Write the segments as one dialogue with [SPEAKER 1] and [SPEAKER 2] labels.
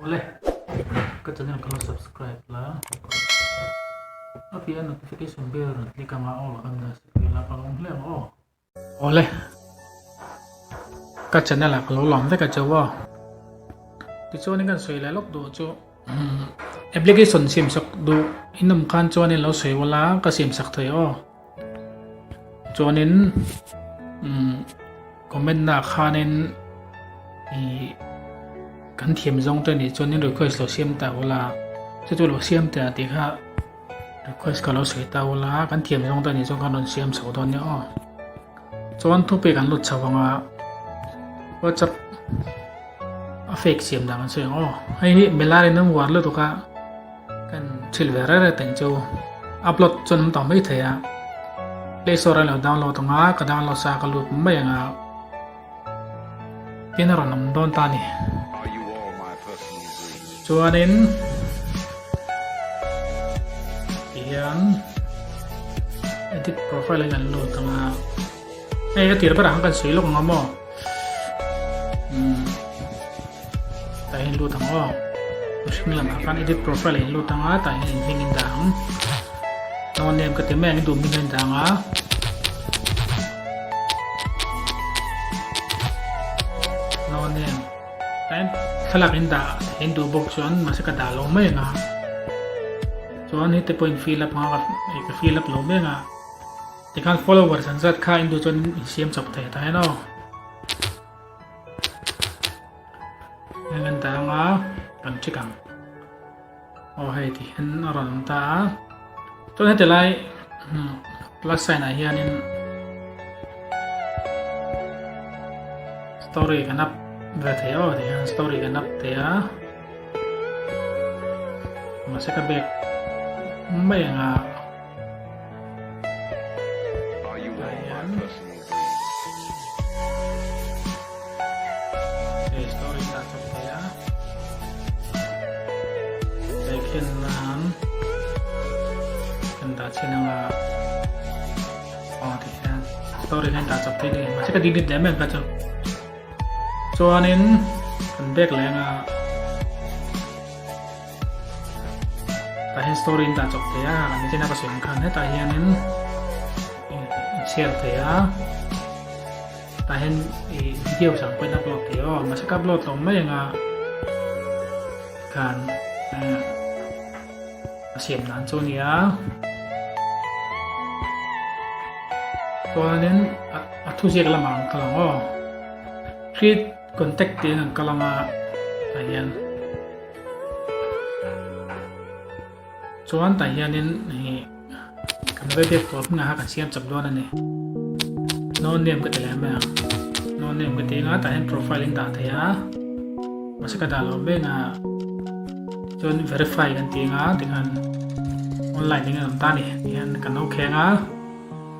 [SPEAKER 1] Awle ka channel ka la subscribe la a piah a notification bell rawn click ang a all kan la sawi la ka awm hlek aw awle ka channel a ka lo lam vek a chaw a ti chuan in kan sawi la lawk duh chu application siam sak duh in awm khan chuan in lo sawi wala ka siam sak thei aw chuanin umm comment na khanin ih kan thiam zawng te nih chuan request lo siam ta ula chuti lo siam teh ah tih kha request ka lo sawi ta ula kan thiam zawng te nih chuan kan rawn siam chho dawn nia aw chuan topic an lut chho vang a whatsapp a fake siam dan kan sawi ang aw hei hi mela rinawm uar lutuk a. kan thil ve rere tein chu upload chuan awm ta mai thei a play store a lo download ang a ka download sa ka lut mai ang a tin a rawn awm dawn ta ni chuanin hian edit profile a kan lut ang a Hei ka tir berah khan kan sawi lawk ang a maw? Tah hian lut ang aw. Mihring lam khan edit profile in lut ang a, tah hian in hming in dah ang. No name ka ti mai ang in duh hming in dah ang a. No name. Tah hian thlalak in dah in duh bawk chuan mase ka dah lo mai ang a. Chuan hete pawhin fill up anga ka fill up lo mai ang a. Tikhan followers an zat kha indu chuan in siam chawp thei ta hian aw heng kan ta anga kan chi kang aw hei ti hian a rawn awm ta a chuan heti lai hmm, plus sign ah hian in story kan up ve thei aw ti hian story kan up thei a ma se ka back mai anga story kan ta chak thei ni ma se ka digit lem em ka chu chuanin kan bek lenga Ka he story in ta chawp thei a, kan nithiana ka sawi ang khan hetah hianin i share thei a, tah hian i video sang pawhin upload thei aw, mahse ka upload hlawm mai anga khan a siam dan chu nia. Chuanin a thuziak lamah ang ka lang aw. Three Contact tih in an kal ang a, tah hian. Chuan tah hianin hei kan vaibiak tur hming aha kan siam chak dawn a ni. No name ka ti leh mai ang. No name ka ti anga tah hian profile in dah thei a. Masa ka dah lo mek a. Chuan verify kan ti anga tikhan online in kan awm ta ni. Tih hian kan ok heng a.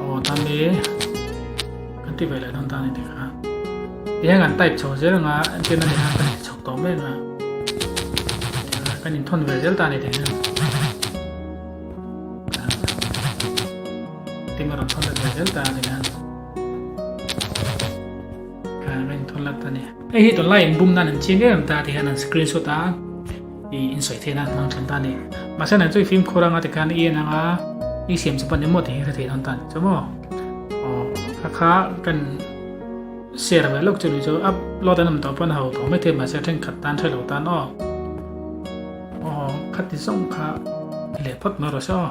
[SPEAKER 1] aw tan ni kan ti ve leh dawn ta ni tih kha ti hian kan type chho zel anga tin a ni a kan chhawk tawh mek a kan in thawn ve zel ta ni tih hian tin a rawn thawn ve zel ta ni hian kan rin thawn lat ta ni hei hi tunlai in bum nan an chin em ta ti hian an screenshot a i insawi theih nan hmang thin ta ni. Mahse nai chu i fimkhur anga ti khan i en anga i siam chu pawn emaw ti hi hre thei dawn ta ni chu maw? Aw, kha kha kan share ve lawk chu ni chu upload an awm tawh pawn hau thawh mai thei mahse thenkhat tan hre lo tan aw. Aw, khati zawng kha i leh phawt mai rawh se aw.